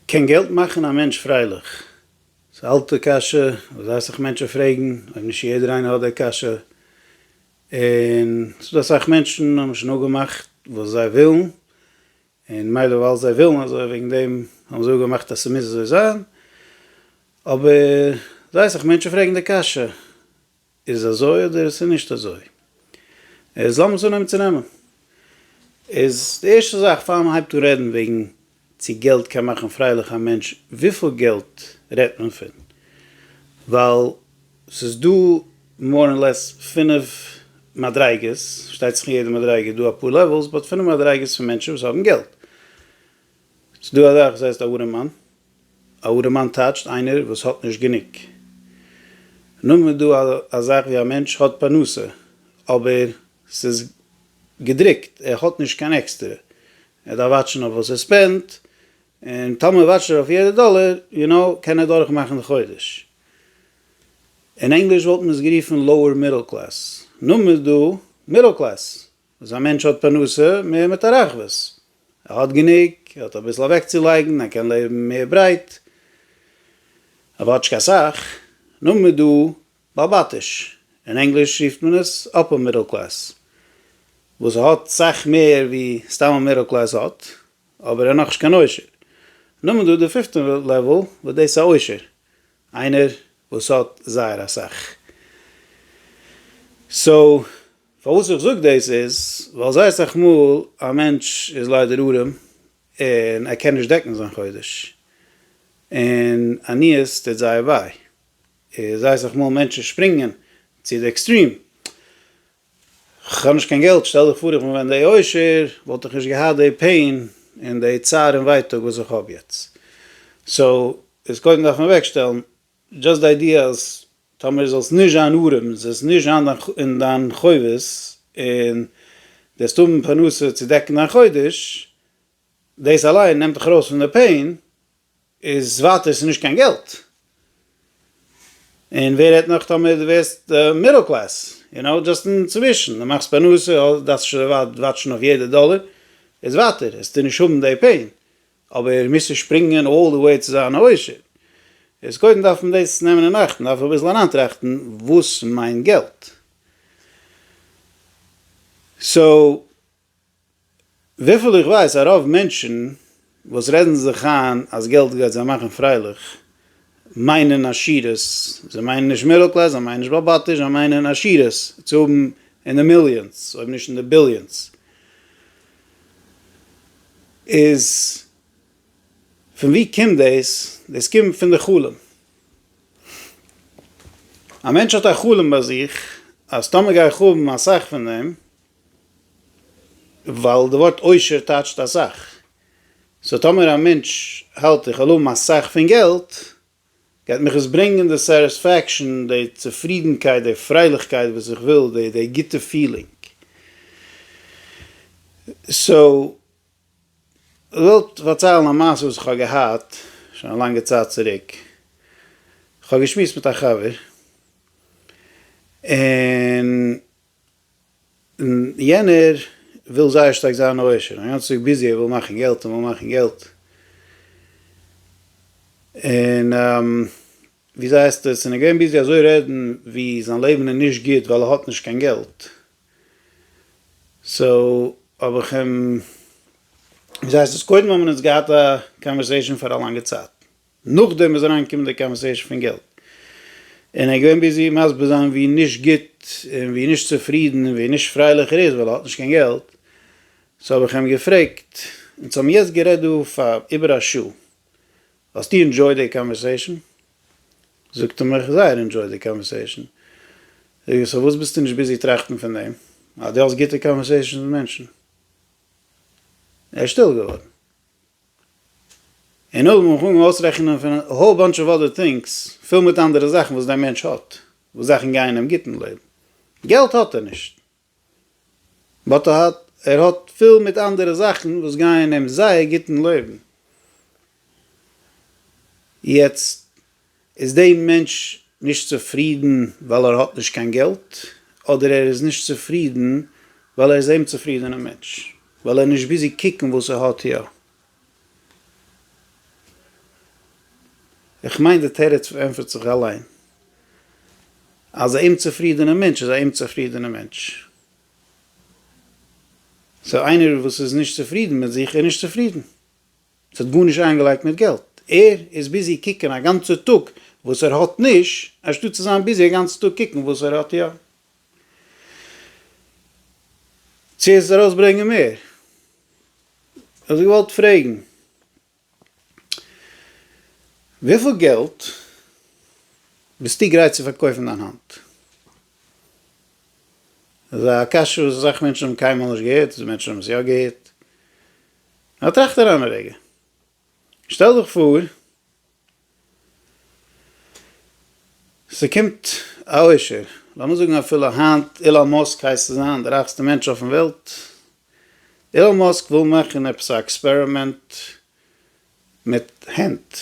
קען געלט מאכן א מענטש פרייליך? ס'איז א אלטע קשיא וואס אסך מענטשן פרעגן, אויב נישט יעדער איינער האט די קשיא, און ס'איז דא אסאך מענטשן האבן שוין אפגעמאכט וואס זיי ווילן, און מילא ווייל זיי ווילן אזוי וועגן דעם האבן זיי אפגעמאכט אז ס'מוז אזוי זיין, אבער זייער אסך מענטשן פרעגן די קשיא, איז אזוי אדער עס איז נישט אזוי? איז לאמיר עס אנהייבן צו נעמען. איז די ערשטע זאך פאר מען הייבט אן רעדן וועגן צו געלט קען מאכן פרייליך א מענטש, וויפיל געלט רעדט מען פון? ווייל ס'איז דא מאר און לעס פינף מדריגות, שטייט זיך אין יעדע מדריגה איז דא אפאר לעוועלס, באט פינף מדריגות פון מענטשן וואס האבן געלט. ס'איז דא א זאך וואס הייסט א וואטער מאן, א אָדערמאַן טייטשט איינער וואס האט נישט גענוג. נאמען איז דא א זאך ווי א מענטש האט פרנסה אבער ס'איז געדרוקט, ער האט נישט קיין עקסטערע, ער דארף וואטשן אויף וואס ער ספענדט, און טאמער וואטשט ער אויף יעדע דאלער, יו קנאו, קען ער דורכמאכן די חודש. אין ענגליש וואלט מען עס גערופן לאוער מידל קלעס. נאמען איז דא מידל קלעס, אז א מענטש האט פרנסה מער מיט א רחבות, ער האט גענוג, ער האט אביסל אוועקצולייגן, ער קען לעבן מער ברייט, אבער האט נישט קיין סאך, נאר מ'איז דא בעל בתיש, אין ענגליש רופט מען עס אפער מידל קלעס, וואס ער האט סאך מער ווי סתם א מידל קלעס האט, אבער ער איז נאכנישט קיין עושר. נאר מ'איז דא די פיפטע לעוועל וואס דאס איז א עושר, איינער וואס האט זייער אסאך. סאו פארוואס איך זאג דאס איז, ווייל זייער סאך מאל א מענטש איז ליידער ארעם און ער קען נישט דעקן זיין חודש, און עניות טוט זייער וויי, און זייער סאך מאל מענטשן שפרינגען צו די עקסטרים, כ'האב נישט קיין געלט, שטעל דיך פאר איך בין ווען די עושר וואלט איך נישט געהאט די פעין און די צער און ווייטאג וואס איך האב יעצט, סאו איז קודם דארף מען אוועקשטעלן דזשאסט די איידיע אז טאמער זאלסט נישט זיין ארעם, זאלסט נישט זיין אין דיין חובות, און דו וועסט האבן פרנסה צו דעקן דיין חודש, דאס אליין נעמט דיך ארויס פון די פעין, איז ווייטער ס'נישט קיין געלט. און ווער רעדט נאך טאמער דו ווערסט מידל קלעס, יו נאו, דזשאסט אינצווישן, דו מאכסט פרנסה, דארפסט נישט אזוי ווייט וואטשן אויף יעדע דאלער, איז ווייטער, עסטו נישט האבן די פעין. אבער מוז נישט שפרינגען אלל די וועי צו זיין א עושר, איז קודם דארף מען דאס נעמען אין אכט, מ'דארף אביסל אריינטראכטן וואס מיינט געלט. סאו וויפיל איך ווייס א רוב מענטשן וואס רעדן זיך איין אז געלט גייט זיי מאכן פרייליך מיינען עשירות, זיי מיינען נישט מידל קלעס, זיי מיינען נישט באבאטיש, זיי מיינען עשירות, צו האבן אין די מיליאנס אויב נישט אין די ביליאנס, איז פון ווי קומט דאס? דאס קומט פון די חלום. א מענטש האט א חלום ביי זיך אז טאמער גיי איך האבן אסאך פון דעם, ווייל די ווארט עושר טייטשט אסאך, סאו טאמער א מענטש האלט איך וועל האבן אסאך פון געלט, גייט מיך עס ברענגען די סעריספעקשאן, די צופרידנקייט, די פרייליכקייט וואס איך וויל, די די גוטע פילינג? סאו, כ'וועל פארציילן א מעשה וואס איך האב געהאט, שוין א לאנגע צייט צוריק, כ'האב געשמועסט מיט א חבר, און. און יענער וויל זייער שטארק זיין א עושר, און גאנצע טאג ביזי, ער וויל מאכן געלט, ער וויל מאכן געלט, און וויאזוי הייסט עס, און ער געווען ביזי אזוי רעדן ווי זיין לעבן איז נישט גוט ווייל ער האט נישט קיין געלט, סאו האב איך אים, וויאזוי הייסט עס, קודם האבן אונז געהאט א קאנווערסעישאן פאר א לאנגע צייט, נאכדעם איז אריין געקומען די קאנווערסעישן פון געלט, און ער איז געווען ביזי מסביר זיין ווי נישט גוט און ווי נישט צופרידן און ווי נישט פרייליך ער איז ווייל ער האט נישט קיין געלט, סאו האב איך אים געפרעגט, אונז האבן יעצט גערעדט דא פאר איבער א שעה, האסטו אינדזשויד די קאנווערסעישן? זאגט ער מיך, זייער אינדזשויד די קאנווערסעישן. זאג איך, סאו וואס ביסטו נישט ביזי טראכטן פון דעם אז דו האסט גוטע קאנווערסעישנס מיט מענטשן? ער איז שטיל געווארן. און נאכדעם האב איך אנגעהויבן אויסרעכענען פון א האול באנטש אוו אדער טינגס, פיל מיט אנדערע זאכן וואס דער מענטש האט, וואס זאכן גייען אים גוט אין לעבן. געלט האט ער נישט, באט ער האט ער האט פיל מיט אנדערע זאכן וואס גייען אים זייער גוט אין לעבן. יעצט. איז דעי מענטש נישט צופרידן ווייל ער האט נישט קיין געלט, אדער ער איז נישט צופרידן ווייל ער איז א אומצופרידענע מענטש, ווייל ער איז נישט ביזי קוקן וואס ער האט יא? איך מיין די תירוץ ענטפערט זיך אליין, אז א אומצופרידענע מענטש איז א אומצופרידענע מענטש. סאו איינער וואס איז נישט צופרידן מיט זיך איז נישט צופרידן. עס האט גארנישט איינגעלייגט מיט געלט, ער איז ביזי קוקן א גאנצע טאג וואס ער האט נישט, אנשטאט צו זיין ביזי א גאנצע טאג קוקן וואס ער האט יא. צו עס ארויס ברענגען מער. וואלט איך געוואלט פרעגן, וויפיל געלט ביסטו גרייט צו פארקויפן דיין האנט? דאס איז א קשיא וואס אסאך מענטשן האבן קיינמאל נישט געהערט, מענטשן האבן עס יא געהערט. נאר טראכט אריין א רגע, שטעל דיך פאר ס'קומט א עושר, לאמיר זאגן אפילו היינט אילאן מאסק הייסט צו זיין דער רייכסטער מענטש אויפן וועלט, אילאן מאסק וויל מאכן עפעס א עקספערימענט מיט הענט,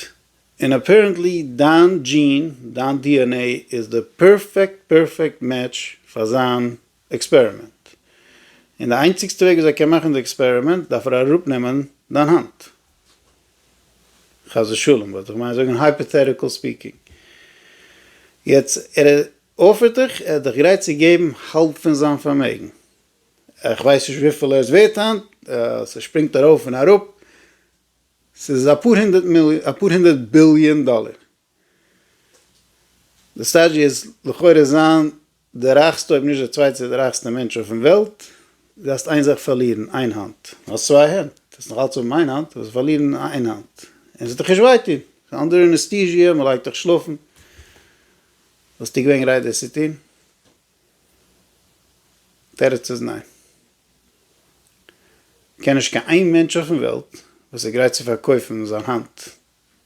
און אפערענטלי דיין דזשין, דיין DNA איז די פערפעקט פערפעקט מעטש פאר זיין עקספערימענט. און די איינציגסטע וועג וויאזוי ער קען מאכן די עקספערימענט דארף ער אראפנעמען דיין האנט. חס ושלום וואלט איך געמיינט זאגן הייפאטעטיקל ספיקינג. יעצט ער אפערט דיך, ער איז דיך גרייט צו געבן האלב פון זיין פארמעגן. איך ווייס נישט וויפיל ער איז ווערט היינט, ס'שפרינגט ארויף און אראפ, ס'איז אפאר הונדערט ביליאן דאלער. די סטעידזש איז לכאורה זיין די רייכסטע אויב נישט די צווייטע די רייכסטע מענטש אויפן וועלט, דו האסט איין זאך פארלירן, איין האנט, דו האסט צוויי הענט, דו וועסט נאך אלץ האבן איין האנט, דו וועסט פארלירן איין האנט, און עס וועט דיך נישט וויי טון, קיין אנדערע אנעסטיזיע, מען לייגט דיך שלאפן, וואלסטו געווען גרייט דאס צו טון? תירוץ איז ניין. כ'קען נישט קיין איין מענטש אויפן וועלט וואס איז גרייט צו פארקויפן זיין האנט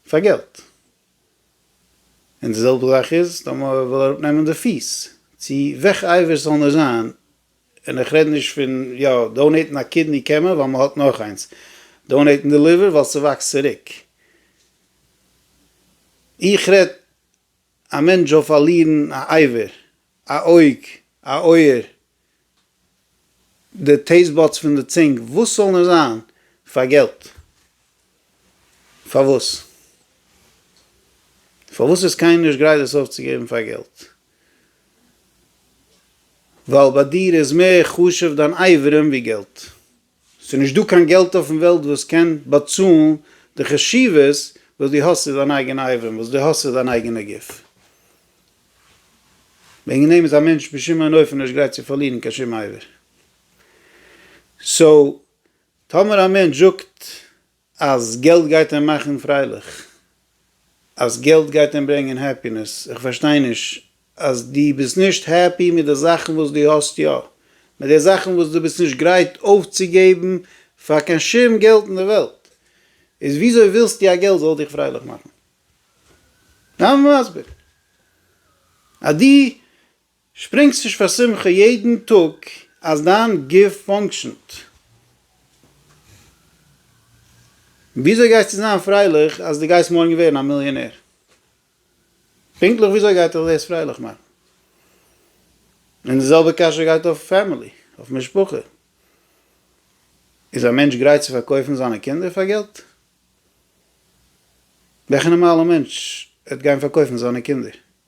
פאר געלט. און די זעלבע זאך איז טאמער ער וויל אראפנעמען די פיס, צו וועלכע אייוועלט ס'זאל נישט זיין, און איך רעד נישט פון יא דאנעיטן א קידני קען מען ווייל מען האט נאך איינס, דאנעיטן די ליווער ווייל ס'וואקסט צוריק. איך רעד א מענטש זאל פארלירן א אייווער, א אויג, א אויער, די טעיסט באדס פון די צונג, וואס זאל נאר זיין? פאר געלט? פארוואס? פארוואס איז קיינער נישט גרייט דאס אויפצוגעבן פאר געלט? ווייל ביי דיר איז מער חשוב דיין אברים ווי געלט. ס'איז נישט דא קיין געלט אויפן וועלט וואס קען באצאלן די חשיבות וואס דו האסט צו דיין אייגענע אייבערן, וואס דו האסט צו דיין אייגענע גוף. וועגן דעם איז א מענטש בשום אין אופן נישט גרייט צו פארלירן קיין שום אייבער. סאו, טאמער א מענטש זאגט אז געלט גייט אים מאכן פרייליך, אז געלט גייט אים ברענגען העפינעס, איך פארשטיי נישט, אז דו ביסט נישט העפי מיט די זאכן וואס דו האסט יא, מיט די זאכן וואס דו ביסט נישט גרייט אויפצוגעבן פאר קיין שום געלט אין די וועלט, איז וויאזוי ווילסטו אז געלט זאל דיך פרייליך מאכן? זיי מיר מסביר אז דו. שפרינגסט נישט פאר שמחה יעדן טאג אז דיין גוף פאנקשענט? וויאזוי גייסטו זיין פרייליך אז דו גייסט מארגן ווערן א מיליאנער? פונקטליך וויאזוי גייט דיך דאס פרייליך מאכן? און די זעלבע קשיא גייט אויף פעמילי, אויף משפחה. איז א מענטש גרייט צו פארקויפן זיינע קינדער פאר געלט? וועלכע נארמאלע מענטש וועט גיין פארקויפן זיינע קינדער?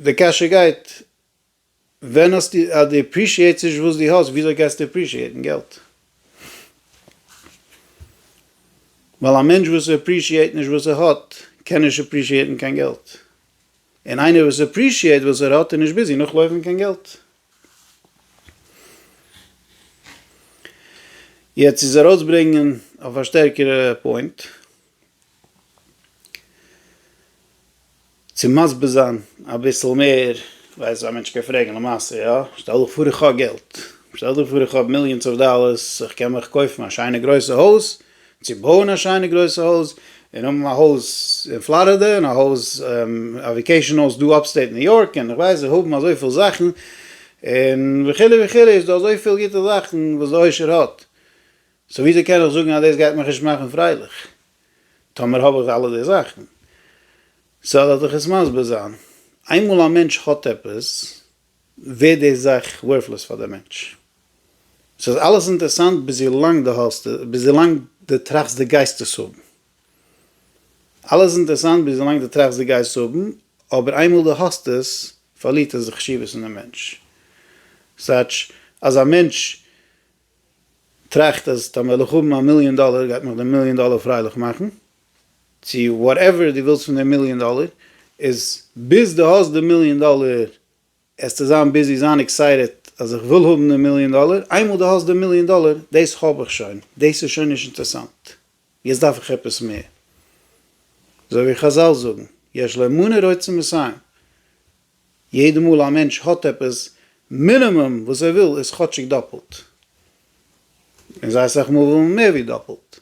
די קשיא גייט, ווען האסטו, אז דו עפרישיעטס נישט וואס דו האסט, וויאזוי גייסטו עפרישיעטן געלט? ווייל א מענטש וואס עפרישיעט נישט וואס ער האט, קען נישט עפרישיעטן קיין געלט. און איינער וואס עפרישיעט וואס ער האט איז נישט ביזי נאכלויפן קיין געלט. יעצט צו עס ארויסברענגען אויף א שטערקערע פוינט. צו מסביר זיין אביסל מער, כ'ווייס אז א מענטש קען פרעגן למעשה יא, שטעל דיך פאר איך האב געלט, שטעל דיך פאר איך האב מיליאנס אוו דאלערס, איך קען מיך קויפן א שיינע גרויסע הויז, צו בויען א שיינע גרויסע הויז, און האבן א הויז אין פלארידע, און א הויז, א וועקעישאן הויז דא אפסטעיט ניו יארק, און כ'ווייס זיך האבן אזויפיל זאכן, און וכו' וכו', איז דא אזויפיל גוטע זאכן וואס די עושר האט. סאו וויאזוי קען איך זאגן אז דאס גייט מיך נישט מאכן פרייליך טאמער האב איך אלע די זאכן? סאו לאז איך עס מסביר זיין, איינמאל א מענטש האט עפעס ווערט די זאך ווארטלאז פאר די מענטש. סאיז אלעס אינטערסאנט ביז ווי לאנג די האסט עס, ביז ווי לאנג די טראכסט די גייסט עס האבן. אלעס אינטערסאנט ביז ווי לאנג די טראכסט די גייסט האבן, אבער איינמאל די האסט עס פארלירט עס די חשיבות אין די מענטש. סאטש אז א מענטש טראכט אז טאמער וועל איך האבן א מיליאן דאלער גייט מיך די מיליאן דאלער פרייליך מאכן, צו וואטעווער דו ווילסט פון די מיליאן דאלער, איז ביז דו האסט די מיליאן דאלער העסטו זיין ביזי זיין עקסייטעד אז איך וויל האבן די מיליאן דאלער, איינמאל דו האסט די מיליאן דאלער, דאס האב איך שוין, דאס איז שוין נישט אינטערסאנט, יעצט דארף איך עפעס מער. אזוי ווי חזל זאגן, יש לאמונה רצון מסיים, יעדע מאל א מענטש האט עפעס, מינימום וואס ער וויל איז כאטשיג דאפלט, און זייער סאך מאל וויל מען מער ווי דאפלט.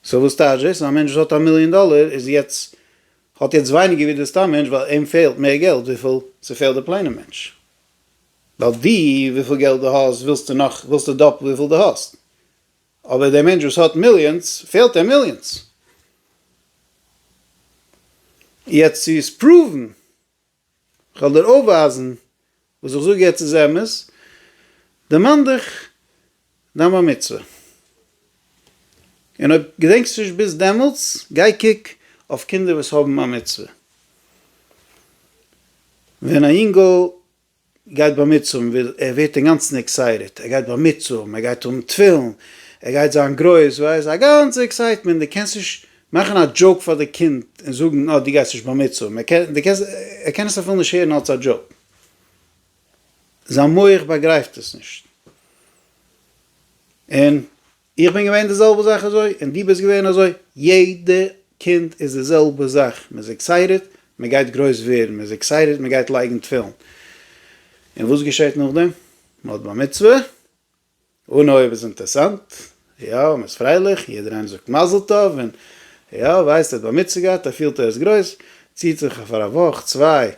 סאו וואס טייטש דאס? א מענטש וואס האט א מיליאן דאלער איז יעצט, האט יעצט ווייניגער ווי דער סתם מענטש ווייל אים פעלט מער געלט וויפיל ס'פעלט די פלעינע מענטש. ווייל דו, וויפיל געלט דו האסט, ווילסטו נאך, ווילסטו דאפלט וויפיל דו האסט. אבער דער מענטש וואס האט מיליאנס פעלט אים מיליאנס. יעצט צו עס פראוון, איך וועל דיר אויפווייזן, וואס איך זאג יעצט איז אמת, דערמאן דיך דיין בר מצוה, און אויב געדענקסט נישט ביז דעמאלטס, גיי קוק אויף קינדער וואס האבן א מצוה, ווען א יונגל גייט באמיצען ווי ער ווערט אינגאנצן עקסייטעד, ער גייט באמיצען, ער גייט האבן תפילין, ער גייט זיין גרויס, ווייסט, א גאנצע עקסייטמענט, דו קענסט נישט מאכן א דזשאוק פאר די קינד און זאגן אה דו גייסט נישט באמיצען, ער קען, דו קענסט, ער קען עס אפילו נישט הערן אלץ א דזשאוק, זיין מח באגרייפט עס נישט, און איך בין געווען די זעלבע זאך אזוי און דו ביסט געווען אזוי, יעדע קינד איז די זעלבע זאך, מען איז עקסייטעד מען גייט גרויס ווערן, מען איז עקסייטעד מען גייט לייגן תפילין, און וואס געשעט נאכדעם? מען האט בר מצוה, אנהויב איז אינטערסאנט, יא מען איז פרייליך, יעדער איינער זאגט מזל טוב, און יא ווייסט ער האט בר מצוה געהאט ער פילט ער איז גרויס, ציט זיך פאר א וואך צוויי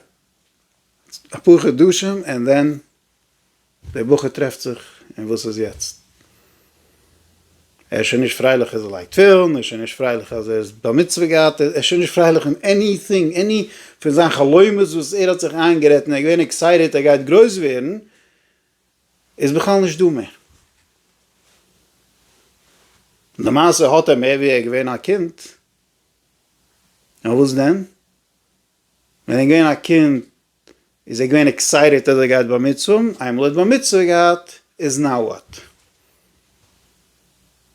אפאר חדשים און דען דער בחור טרעפט זיך און וואס איז יעצט? ער איז שוין נישט פרייליך אז ער לייגט תפילין, ער איז שוין נישט פרייליך אז ער איז בר מצוה געהאט, ער איז שוין נישט פרייליך אין עניטינג, עני פון זיין חלומות וואס ער האט זיך איינגערעדט און ער איז געווען עקסייטעט ער גייט גרויס ווערן, איז בכלל נישט דא מער. למעשה האט ער מער ווי ער איז געווען א קינד, און וואס דען? ווען ער איז געווען א קינד איז ער געווען עקסייטעט אז ער גייט בר מצוה, איינמאל ער האט בר מצוה געהאט איז נאו וואט?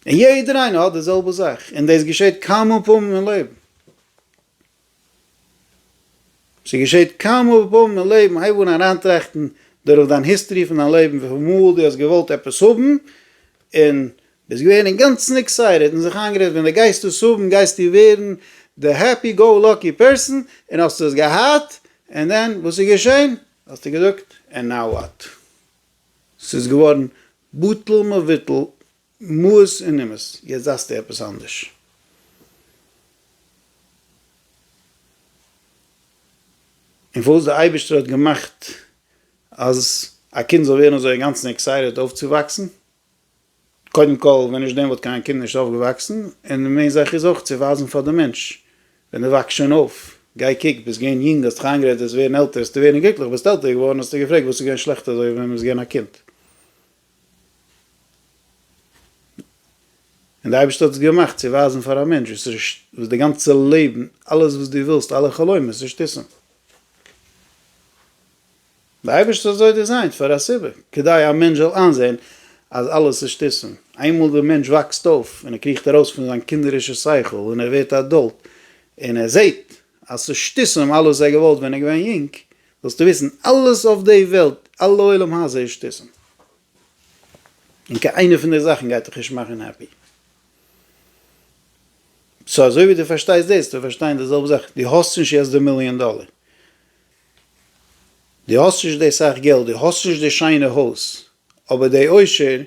און יעדער איינער האט די זעלבע זאך, און דאס געשעט כמה פעמים אין לעבן, ס'געשעט כמה פעמים אין לעבן, הייב אן אריינטראכטן דורך דיין היסטערי פון דיין לעבן וויפיל מאל דו האסט געוואלט עפעס האבן און ביסט געווען אינגאנצן עקסייטעד און זיך איינגערעדט ווען דו גייסט דאס האבן גייסטו ווערן די העפי גא לאקי פערסאן און האסט עס געהאט, און דען וואס איז געשען? האסטו געזאגט ענד נאו וואט? ס'איז געווארן בטל מבוטל מעות און אימות, יעצט דארפסטו עפעס אנדערש. און פארוואס דער אייבערשטער האט געמאכט אז א קינד זאל ווערן אזוי אינגאנצן עקסייטעד אויפצואוואקסן? קודם כל, ווען נישט דעם וואלט קיין קינד נישט אויפגעוואקסן, און די מעין זאך איז אויך צו ווייזן פאר די מענטש, ווען די וואקסט שוין אויף, גיי קוק, ביסט געווען יונג האסט דיך איינגערעדט וועסט ווערן עלטער האסטו ווערן גליקליך ביסט עלטער געווארן האסטו געפרעגט וואס איז געווען שלעכט אזוי ווען מ'איז געווען א קינד, און די אייבערשטער האט עס געמאכט צו ווייזן פאר א מענטש וואס וואס די גאנצע לעבן אלעס וואס דו ווילסט אלע חלומות נישט עסן. דער אייבערשטער האט אזוי דעזיינט פאר א סיבה, כדי א מענטש זאל איינזען אז אלעס איז שטותים. איינמאל דער מענטש וואקסט אויף און ער קריכט ארויס פון זיין קינדערישע שכל און ער ווערט א עדאלט און ער זעט אז ס'איז שטותים אלעס וואס ער האט געוואלט ווען ער איז געווען יונג, זאלסטו וויסן, אלעס אויף די וועלט, אלע עולם הזה איז שטותים. און קיין איינע פון די זאכן גייט דיך נישט מאכן העפי. סאו אזוי ווי דו פארשטייסט דאס, דארפסטו פארשטיין די זעלבע זאך, דו האסט נישט יעצט די מיליאן דאלער, דו האסט נישט די סאך געלט, דו האסט נישט די שיינע הויז, אבער די עושר,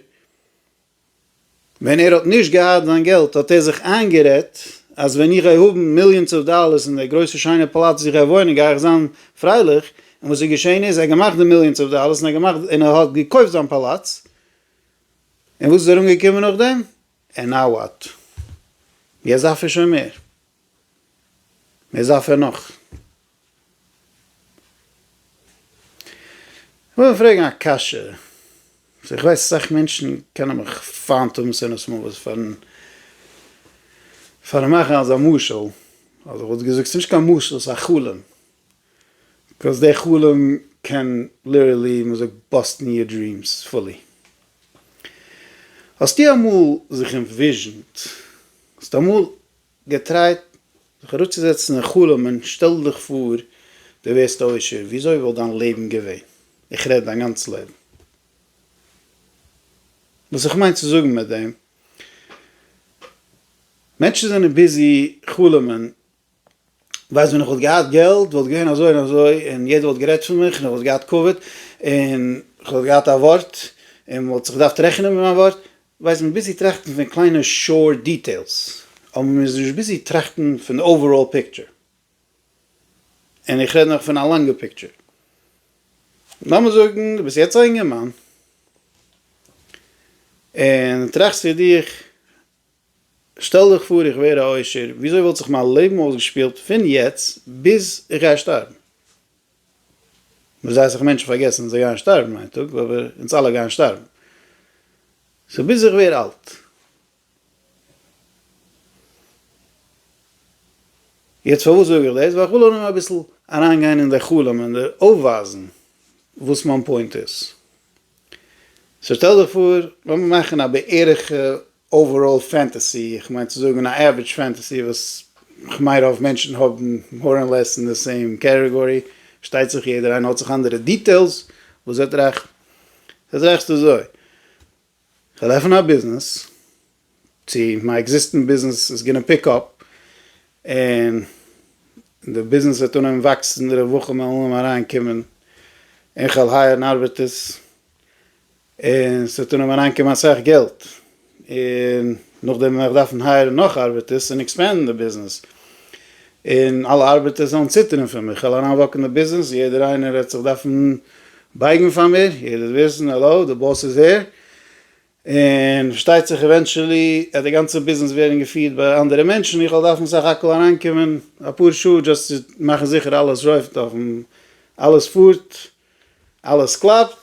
ווען ער האט נישט געהאט זיין געלט האט ער זיך איינגערעדט אז ווען איך גיי האבן מיליאנס אוו דאלערס און די גרויסע שיינע פאלאץ וואו איך גיי וואוינען גיי איך זיין פרייליך, און וואס איז געשען איז ער האט געמאכט די מיליאנס אוו דאלערס און ער האט געמאכט און ער האט געקויפט זיין פאלאץ, און וואס איז ארומגעקומען נאכדעם? ענד נאו וואט? יעצט דארף ער שוין מער? וואס דארף ער נאך? כ'וויל פרעגן א קשיא, וואס איך ווייס אסאך מענטשן קענען מיך פיינט האבן שנאת מוות פארן פארן מאכן אזא משל, אדער כ'וואלט געזאגט ס'איז נישט קיין משל ס'איז א חלום. קויז די חלום קען ליטערלי ווי מ'זאגט באסטן יור דרימס פולי. האסטו אמאל זיך אינוויזשענט, האסטו אמאל געטרייט זיך אראפצוזעצן און חלומ'ען שטעל דיך פאר דו ווערסט עושר וויאזוי וואלט דיין לעבן געווען? איך רעד דיין גאנץ לעבן. וואס איך מיין צו זאגן מיט דעם, מענטשן זענען ביזי חלומ'ען. ווייסט ווען איך וואלט געהאט געלט וואלט געווען אזוי און אזוי און יעדער וואלט גערעדט פון מיך און איך וואלט געהאט כבוד און איך וואלט געהאט א ווארט און מען וואלט זיך געדארפט רעכענען מיט מיין ווארט, ווייסט מען איז ביזי טראכטן פון קליינע שור דיטעילס אבער מען איז נישט ביזי טראכטן פון די אוועראל פיקטשער און איך רעד נאך פון א לאנגע פיקטשער. לאמיר זאגן דו ביסט יעצט א אינגערמאן און טראכסט פון דיך שטעל דיך פאר איך ווער א עושר, וויאזוי וואלט זיך מיין לעבן אויסגעשפילט פון יעצט ביז איך גיי שטארבן? מ'זעט זיך מענטשן פארגעסן זיי גייען שטארבן איין טאג, אבער אונז אלע גייען שטארבן. סאו ביז איך ווער אלט. יעצט פארוואס זאג איך דאס? ווייל איך וויל אנהויבן אביסל אריינגיין אין די חלום און אויפווייזן וואס מיין פוינט איז. סאו שטעל דיך פאר, לאמיר מאכן א בערך אוועראל פענטעסי, איך מיין צו זאגן א עווערעדזש פענטעסי וואס כ'מיין רוב מענטשן האבן מאר און לעס אין די סעים קעטעגארי, פארשטייט זיך יעדער איינער האט זיך אנדערע דיטעילס, וואס זעט רעכט זעט רעכט אזוי, כ'וועל עפענען א ביזנעס, צו מיין עקזיסטענט ביזנעס איז גענע פיק אפ, און די ביזנעס וועט אנהויבן וואקסן, די רווחה וועלן אנהויבן אריין קומען, און כ'וועל הייערן ארבעטערס, און ס'וועט אנהויבן אריינקומען אסאך געלט, און נאכדעם וועל איך דארפן הייערן נאך ארבעטערס און עקספענדן די ביזנעס, און אלע ארבעטערס וועלן ציטערן פון מיר, כ'וועל אריינוואקן די ביזנעס, יעדער איינער וועט זיך דארפן בייגן פאר מיר, יעדער וועט וויסן, העלאו, די באס איז הער, און פארשטייט זיך עווענטשעלי וועט די גאנצע ביזנעס ווערן געפירט ביי אנדערע מענטשן, איך וועל דארפן סך הכל אריינקומען אפאר שעה דזשאסט צו מאכן זיכער אלעס רויפט אויף, אלעס פארט. אלעס קלאפט,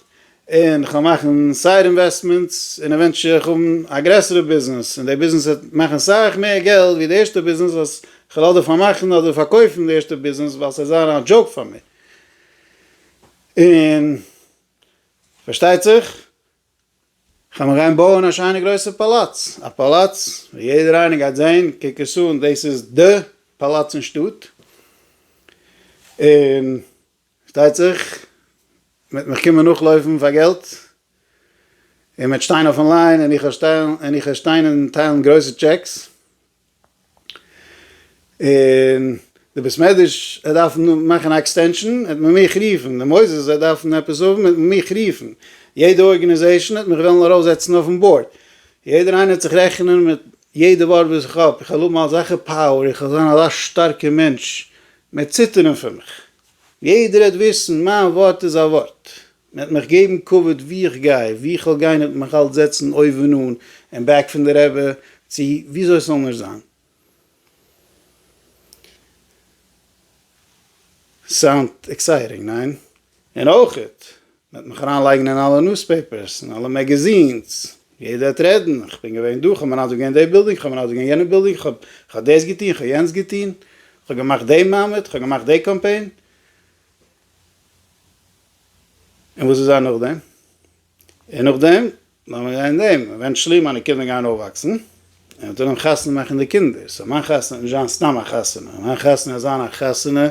און כ'וועל מאכן סייד אינוועסטמענטס, און עווענטועל וועל איך האבן א גרעסערע ביזנעס, און די ביזנעס וועט מאכן סאך מער געלט ווי די ערשטע ביזנעס וואס כ'וועל אדער פארמאכן אדער פארקויפן די ערשטע ביזנעס ווייל ס'וועט זיין א דזשאוק פאר מיר, און פארשטייט זיך כ'וועל מיר גיין בויען א שיינע גרויסע פאלאץ, א פאלאץ וואס יעדער איינער גייט זען, קוק עס אן, דאס איז די פאלאץ אין שטאט, און שטייט זיך מ'וועט מיך קומען נאכלויפן פאר געלט, און מ'וועט שטיין אויפן ליין, און איך וועל שטיין און טיילן גרויסע טשעקס, און די בית מדרש וועט דארפן מאכן א עקסטענשאן, וועט מען מיך רופן, די מוסדות וועט דארפן עפעס האבן, וועט מען מיך רופן, יעדע ארגענעזעישאן וועט מיך וועלן ארויפזעצן אויפן באורד, יעדער איינער וועט זיך רעכענען מיט יעדע ווארט וואס איך האב, איך וועל האבן אזעלכע פאוער, איך וועל זיין אזא שטארקע מענטש, מ'וועט ציטערן פון מיך. יעדער העט וויסן, מיין ווארט איז א ווארט. מען העט מיך געבן כבוד וואו איך גיי, וואו איך וועל גיין העט מען מיך אלץ זעצן אויבן אן, אין בעק פון די רבי, צו וויאזוי ס'זאל נאר זיין. סאונד עקסייטינג, ניין? און אויך מען האט מיך אריין לייגן אין אלע נוספעיפערס אין אלע מעגעזינס, יעדער האט רעדן, איך בין געווען דא, כ'האב מנדב געווען דעי בילדינג, כ'האב מנדב געווען יענע בילדינג, כ'האב כ'האב דאס געטוהן, כ'האב יענץ געטוהן, כ'האב געמאכט דעי מעמד, כ'האב געמאכט דעי קאמפיין. און וואס איז זיין נאכדעם? און נאכדעם נאר מיר רעדן דעם, עווענטשעלי מיינע קינדער גייען אויפוואקסן, און מ'טאר אים חתונה מאכן די קינדער, סאו מיין חתונה וועט נישט זיין סתם א חתונה, מיין חתונה וועט זיין א חתונה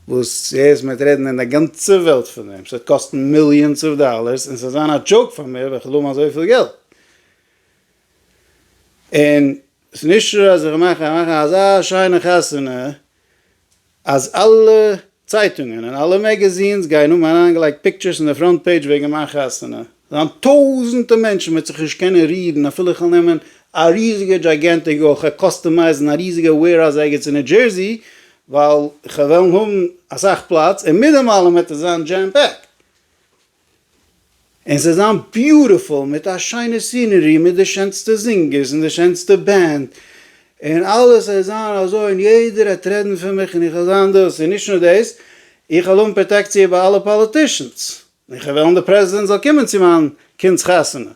וואס יעצט מ'וועט רעדן אין די גאנצע וועלט פון דעם, ס'וועט קאסטן מיליאנס אוו דאלערס, און ס'וועט זיין א דזשאוק פאר מיר וועלכע האבן אזויפיל געלט. און ס'נישט אז איך מאך, איך מאך אזא שיינע חתונה אז אלע צייטונגען און אלע מעגעזינס גייען האבן אריינגעלייגט פיקטשערס אין די פראנט פעידזש וועגן מיין חתונה, זיין טויזענטע מענטשן וועט זיך נישט קענען רירן אפילו איך וועל נעמען א ריזיגע דזשייגענטיק אויך א קאסטומייזן א ריזיגע וועירהאוז ערגעץ אין ניו דזשערסי ווייל כ'וועלן האבן אסאך פלאץ און מיט דעם אלעם וועט עס זיין דזשעם פעקט. און ס'זאל זיין ביוטיפול מיט א שיינע סינערי מיט די שענסטע זינגערס און די שענסטע בענד און אלעס זאל זיין אזוי און יעדער העט רעדן פון מיך און איך זאל זיין דאס און נישט נאר דאס איך וועל האבן פראטעקציע ביי אלע פאליטישאנס און איך וועל וועלן די פרעזידענט זאל קומען צו מיין קינד'ס חתונה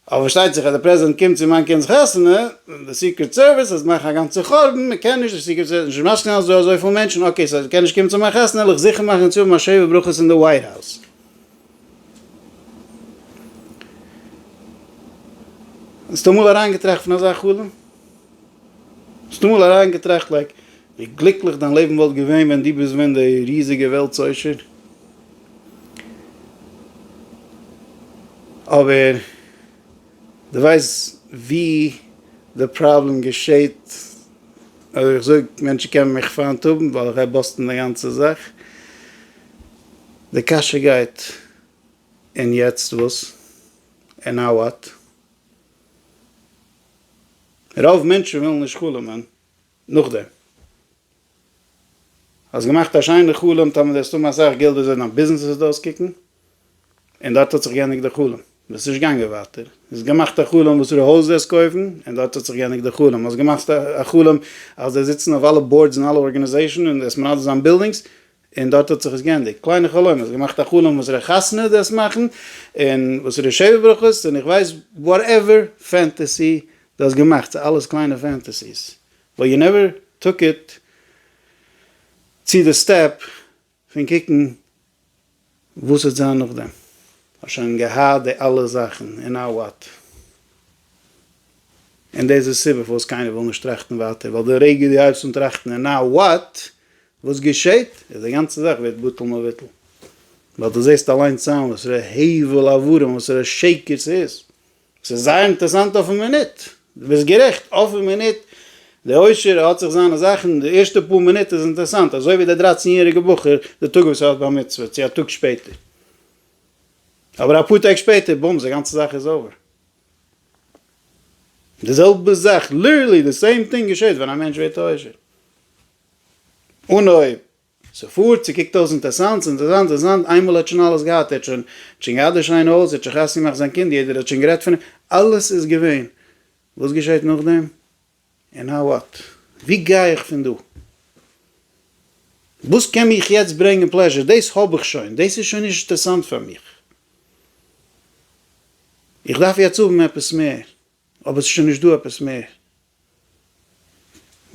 אבער פארשטייט זיך אז דער פרעזידענט קומט צו מיין קינד'ס חתונה, די סיקרעט סערוויס אז מאכן א גאנצע חורבן, מען קען נישט, די סיקרעט סערוויס האט נישט משכון אזוי אזויפיל מענטשן, אקעי סאו אז ער קען נישט קומען צו מיין חתונה וועל איך זיכער מאכן צו האבן א שבע ברכות אין די ווייט האוז. האסט אמאל אריינגעטראכט פון אזא חלום? האסט אמאל אריינגעטראכט לייק ווי גליקליך דיין לעבן וואלט געווען ווען דו ביסט ווען די ריזיגע וועלטס עושר? אבער דו ווייסט ווי די פראבלעם געשעהט אז איך זאג מענטשן קענען מיך פיינט האבן ווייל איך גיי באסטן די גאנצע זאך? די קשיא גייט און יעצט וואס? און נאו וואט? רוב מענטשן ווילן נישט חלומ'ען נאכדעם. האסט געמאכט א שיינע חלום, טאמער דו האסט האבן אסאך געלט וועסט ווען דיין ביזנעס וועסט אויסקוקן, און דארט האט זיך געענדיגט די חלום, ביסט נישט געגאנגען ווייטער, האסט געמאכט א חלום וואסערע הויז וועסט קויפן, און דארט האט זיך געענדיגט די חלום, האסט געמאכט א חלום אז דו זיצן אויף אלע באורדס אין אלע ארגענעזעישן און דו וועסט מנדב זיין בילדינגס, און דארט האט זיך עס גענדיגט. קליינע חלומות, געמאכט א חלום וואס ר' חתן איז דאס מאכן, און וואס איז די שבע ברכות, און איך ווייס וואטעווער פענטעסי דו האסט געמאכט, ס'איז אלעס קליינע פענטעסיס, באט יו נעווער טאק איט צו די סטעפ פון קוקן וואס וועט זיין נאכדעם? האסט שוין געהאט די אלע זאכן און נאו וואט? און דאס איז די סיבה פארוואס קיינער וויל נישט טראכטן ווייטער, ווייל די רגע דו הייבסט אן טראכטן און נאו וואט? וואס געשעט? איז די גאנצע זאך ווערט בטל מבוטל. ווייל דו זעסט אליינס איין וואסערע הבל עברים, וואסערע שקר ס'איז. ס'איז זייער אינטערעסאנט אויפן מינוט. דו ביסט גערעכט, אויפן מינוט, די עושר האט זיך זיינע זאכן, די ערשטע פאר מינוט איז אינטערעסאנט, אזוי ווי דער דרייצן יעריגע בחור די טאג וואס ער האט בר מצוה, צו א טאג שפעטער. אבער אפאר טעג שפעטער, בומס, די גאנצע זאך איז אווער. די זעלבע זאך, ליטערלי די סעים טינג געשעט ווען א מענטש ווערט א עושר. אנהויב. ס'פארט, ס'קוקט אויס אינטערסאנט, ס'אינטערסאנט, אינטערסאנט, איינמאל ער האט שוין אלעס געהאט, ער האט שוין, ער האט שוין געהאט די שיינע הויז, ער האט שוין חתונה געמאכט זיין קינד, יעדער האט שוין גערעדט פון אים, אלעס איז געווען, וואס געשעהט נאכדעם? און נאו וואט? ווי גיי איך פון דא? וואס קען מיך יעצט ברענגען פלעזשער? דאס האב איך שוין, דאס איז שוין נישט אינטערסאנט פאר מיך, איך דארף יעצט האבן עפעס מער. אבער ס'איז שוין נישט דא עפעס מער.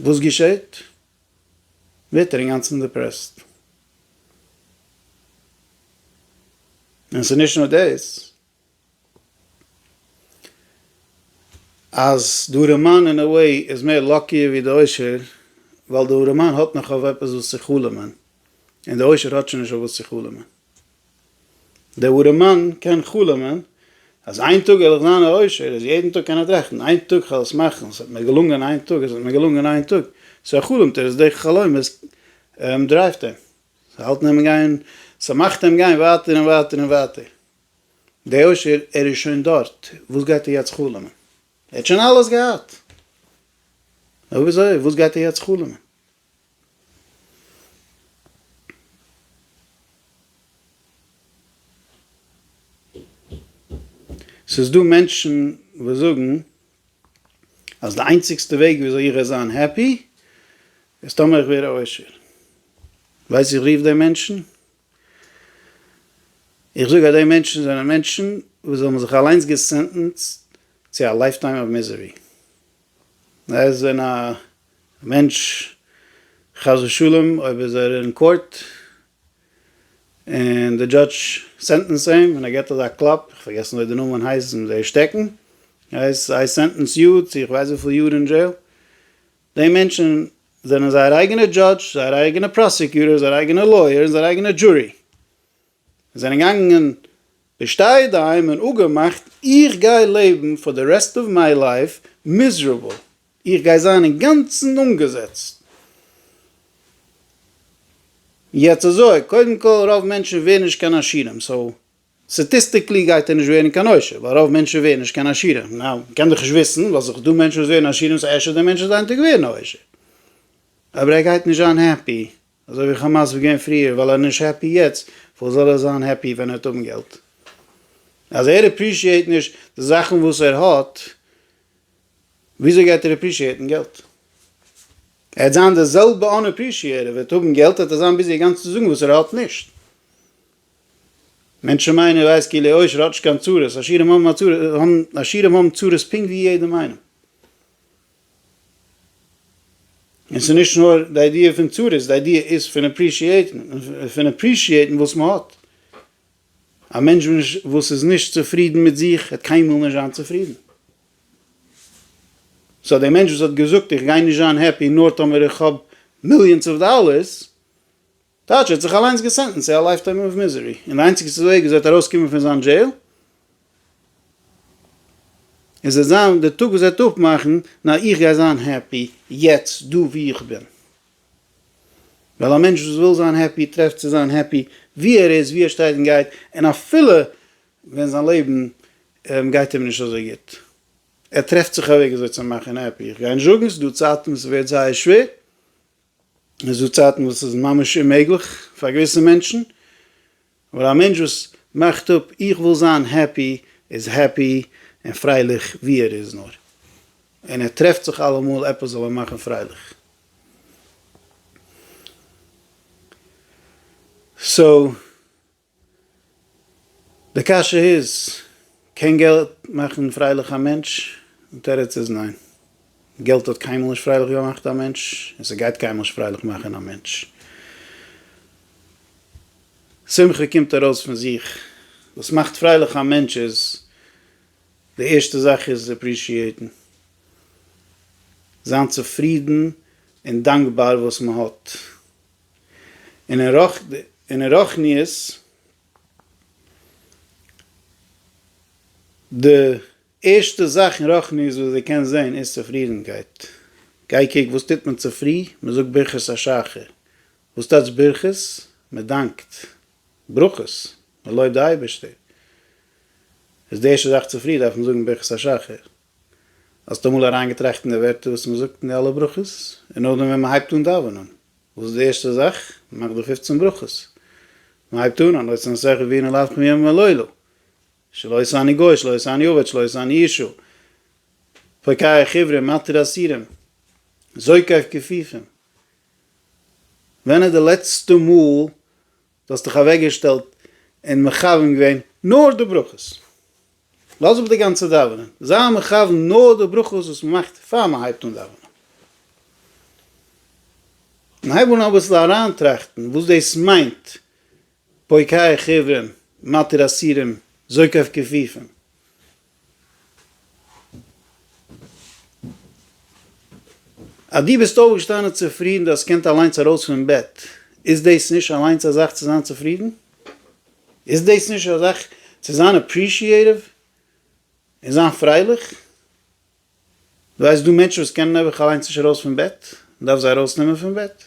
וואס געשעהט? ווערט ער אינגאנצן דיפרעסט. און ס'איז נישט נאר דאס, אז די ארעמאן אין א וועי איז מער לאקיער ווי די עושר, ווייל די ארעמאן האט נאך אויף עפעס וואס צו חלומ'ען, און די עושר האט שוין נישט אויף וואס צו חלומ'ען. דער אָרעמאַן קען חלומען, אַז איין טאָג וועל איך זיין אַ עושר, אַז יעדן טאָג קען ער טראַכטן, איין טאָג כ'וועל עס מאַכן, ס'וועט מיר געלונגען איין טאָג, עס וועט מיר געלונגען איין טאָג. צו ער חלומט ער, איז די חלומות דרייווט אים, זיי האַלטן אים גיין, ס'מאַכט אים גיין ווייטער און ווייטער און ווייטער. דער עושר, ער איז שוין דאָרט, וואָס גייט ער יעצט חלומען? ער האָט שוין אַלעס געהאַט. נאָר וויאַזוי, וואָס גייט ער יעצט חלומען? ס'איז דא מענטשן וואס זאגן אז די איינציגסטע וועג וויאזוי איך וועל זיין העפי איז טאמער איך ווער עושר. ווייסט ווי איך רוף די מענטשן? איך זאג אז די מענטשן זענען מענטשן וואס האבן זיך אליינס געסענטענסד צו א לייפטיים אוו מיזערי. ער איז ווען א מענטש חס ושלום אויב איז ער אין קאורט און די דזשאדש סענטענסט אים און ער געט אזא קלאפ, איך פארגעסן וויאזוי די נאמען הייסט ווען זיי שטעקן, הייסט איי סענטענס יו צו איך ווייס וויפיל יאר אין דזשעיל, די מענטשן זענען זייער אייגענע דזשאדש, זייער אייגענע פראסעקיוטער, זייער אייגענע לויער און זייער אייגענע דזשורי. און זענען געגאנגען בשתיה אדעים און אפגעמאכט איך גיי לעבן פאר די רעסט אוו מיי לייף מיזערעבל, איך גיי זיין אינגאנצן אנגעזעצט. יעצט אזוי, קודם כל רוב מענטשן ווערן נישט קיין עשירים, סאו סטאטיסטיקלי גייט ער נישט ווערן קיין עושר, ווייל רוב מענטשן ווערן נישט קיין עשירים, נאו, מען קען דאך נישט וויסן, ווייל ס'איז דאך דא מענטשן וואס ווערן עשירים סאו אפשר די מענטש איז איינטעג ווערן א עושר, אבער ער גייט נישט זיין העפי. אזוי ווי כאמאס איז געווען פריער ווייל ער נישט העפי יעצט פארוואס זאל ער זיין העפי ווען ער וועט האבן געלט? אז ער עפרישיעט נישט די זאכן וואס ער האט וויאזוי גייט ער עפרישיעטן געלט? ער וועט זיין די זעלבע אן עפרישיעט ער וועט האבן געלט וועט ער זיין ביזי אגאנץ צו זאגן וואס ער האט נישט. מענטשן מיינען ער ווייסט כאילו עושר האט נישט קיין צרות עשירים האבן א צרות האבן עשירים האבן צרות פונקט ווי יעדעם איינעם. און ס'איז נישט נאר די איידיע פון צרות, די איידיע איז פון אפרישיעטן, פון אפרישיעטן וואס מען האט. א מענטש וואס איז נישט צופרידן מיט זיך וועט קיינמאל נישט זיין צופרידן. סאו דער מענטש וואס האט געזאגט איך גיי נישט זיין העפי נאר טאמער איך האב מיליאנס אוו דאלערס, טייטש ער האט זיך אליינס געסענטענסט צו א לייף טערם אוו מיזערי, און די איינציגסטע וועג וויאזוי ער וועט ארויסקומען פון זיין דזשעיל, איז וועט זיין די טאג וואס ער וועט אפמאכן, נאר איך גיי זיין העפי יעצט דא וואו איך בין. ווייל א מענטש וואס וויל זיין העפי טרעפט צו זיין העפי וואו ער איז, וואו ער שטייט און גייט, און אפילו ווען זיין לעבן גייט אים נישט אזוי גוט, ער טרעפט זיך א וועג וויאזוי צו מאכן העפי, איך גיי נישט זאגן, ס'איז דא צייטן וואס ס'ווערט זייער שווער, עס איז דא צייטן וואס עס איז ממש אוממעגליך פאר געוויסע מענטשן, אבער א מענטש וואס מאכט אפ איך וויל זיין העפי איז העפי און פרייליך ווי ער איז נאר, און ער טרעפט זיך אלעמאל עפעס זאל אים מאכן פרייליך. סאו. די קשיא איז, קען געלט מאכן פרייליך א מענטש? די תירוץ איז ניין. געלט האט קיינמאל נישט פרייליך געמאכט א מענטש, און ס'גייט קיינמאל נישט פרייליך מאכן א מענטש. שמחה קומט ארויס פון זיך. וואס מאכט פרייליך א מענטש איז, די ערשטע זאך איז עפרישיעיטן. זיין צופרידן און דאנקבאר וואס מ'האט. אין רוחניות, די ערשטע זאך אין רוחניות וואס די קענסט זען איז צופרידנקייט, גיי קוק וואס טוט מען צופרי, מען זאגט ברכות השחר, וואס טייטש ברכות? מען דאנקט, ברכות, מען לויבט די אייבערשטער, איז די ערשטע זאך צופרי דארף מען זאגן ברכות השחר. האסט אמאל אריינגעטראכט אין די ווערטער וואס מען זאגט אין די אלע ברכות? און נאכדעם ווען מען הייבט אן דאווענען, וואס איז די ערשטע זאך? מען מאכט די פופצן ברכות. מען הייבט אן, הלא ישא נשאיך ווי אינער לאוו כמימים הלילה. שלא ישא אני גוי, שלא ישא אני עובד, שלא ישא אני אישו. פוקח עיוורים, מתיר אסירים. זועק אויף כפיפים. ווען איז די לעצטע מאל דו האסט דיך אוועקגעשטעלט און מכוון געווען נאר די ברכות. לאז אפ די גאנצע דאווענען, זיי מכוון נאר די ברכות וואס מען מאכט פאר מען הייבט אן דאווענען. און הייב אן אביסל אריינטראכטן וואס דאס מיינט פוקח עיוורים, מתיר אסירים, זוקף כפיפים. אז דו ביסט אויפגעשטאנען צופרידן, דו האסט געקענט אליינס ארויס פון בעט, איז דאס נישט אליינס א זאך צו זיין צופרידן? איז דאס נישט א זאך צו זיין אפרישיעטיוו און זיין פרייליך? דו ווייסט דא מענטשן וואס קענען נעבעך אליינס נישט ארויס פון בעט, מען דארף זיי ארויס נעמען פון בעט,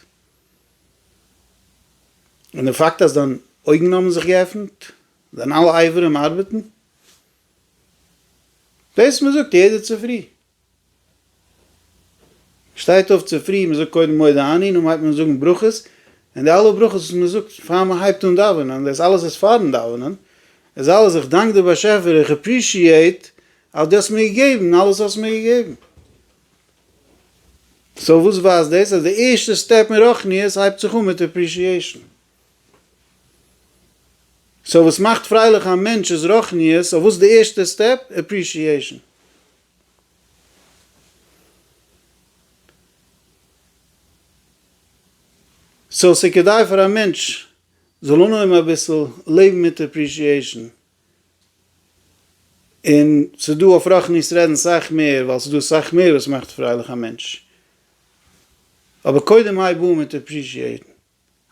און די פאקט אז דיין אויגן האבן זיך געעפנט, דיין אלע אייברים ארבעטן, דאס מען זאגט יעדע צופרי, מען שטייט אויף צופרי, מען זאגט קודם מודה אני, נאכדעם הייבט מען אן זאגן ברכות, און די אלע ברכות וואס מען זאגט פאר מען הייבט אן דאווענען, דאס אלעס איז פארן דאווענען, איז אלעס איך דאנק די באשעפער, איך עפרישיעט אז דו האסט מיר געגעבן אלעס האסט מיר געגעבן. סאו וואס ווייזט דאס? אז די ערשטע סטעפ אין רוחניות הייבט זיך אן מיט עפרישיעישן. סאו וואס מאכט פרייליך א מענטש איז רוחניות, סאו וואס איז די ערשטע סטעפ? עפרישיעישן. סאו ס'איז כדאי פאר א מענטש זאל אנהויבן אביסל לעבן מיט עפרישיעישן. און ס'איז דא אויף רחל ניס רעדן סאך מער ווייל ס'איז דא אסאך מער וואס מאכט פרייליך א מענטש. אבער קודם הייב אן מיט עפרישיעטן.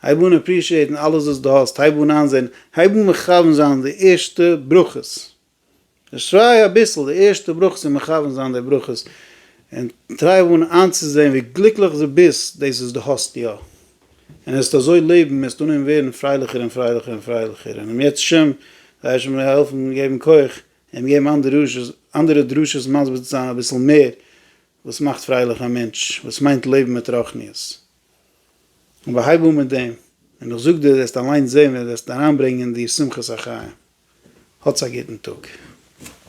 הייב אן עפרישיעטן אלעס וואס דו האסט, הייב אן איינזען, הייב אן מכוון זיין די ערשטע ברכות. דערשריי אביסל די ערשטע ברכות און מכוון זיין די ברכות און טריי אן איינצוזען ווי גליקליך דו ביסט דאס וואס דו האסט יא. און וועסט אזוי לעבן, וועסטו אנהויבן ווערן פרייליכער און פרייליכער און פרייליכער, און אם ירצה השם גיי השי ת העלפן און געבן כח און געבן אנדערע דרשות מסביר צו זיין אביסל מער וואס מאכט פרייליך א מענטש, וואס מיינט לעבן מיט רוחניות. אבער הייב אן מיט דעם, און איך זאג דיר וועסט אליינס זען ווי דו וועסט אריינברענגען אין דיר שמחת החיים. האטס א גוטן טאג.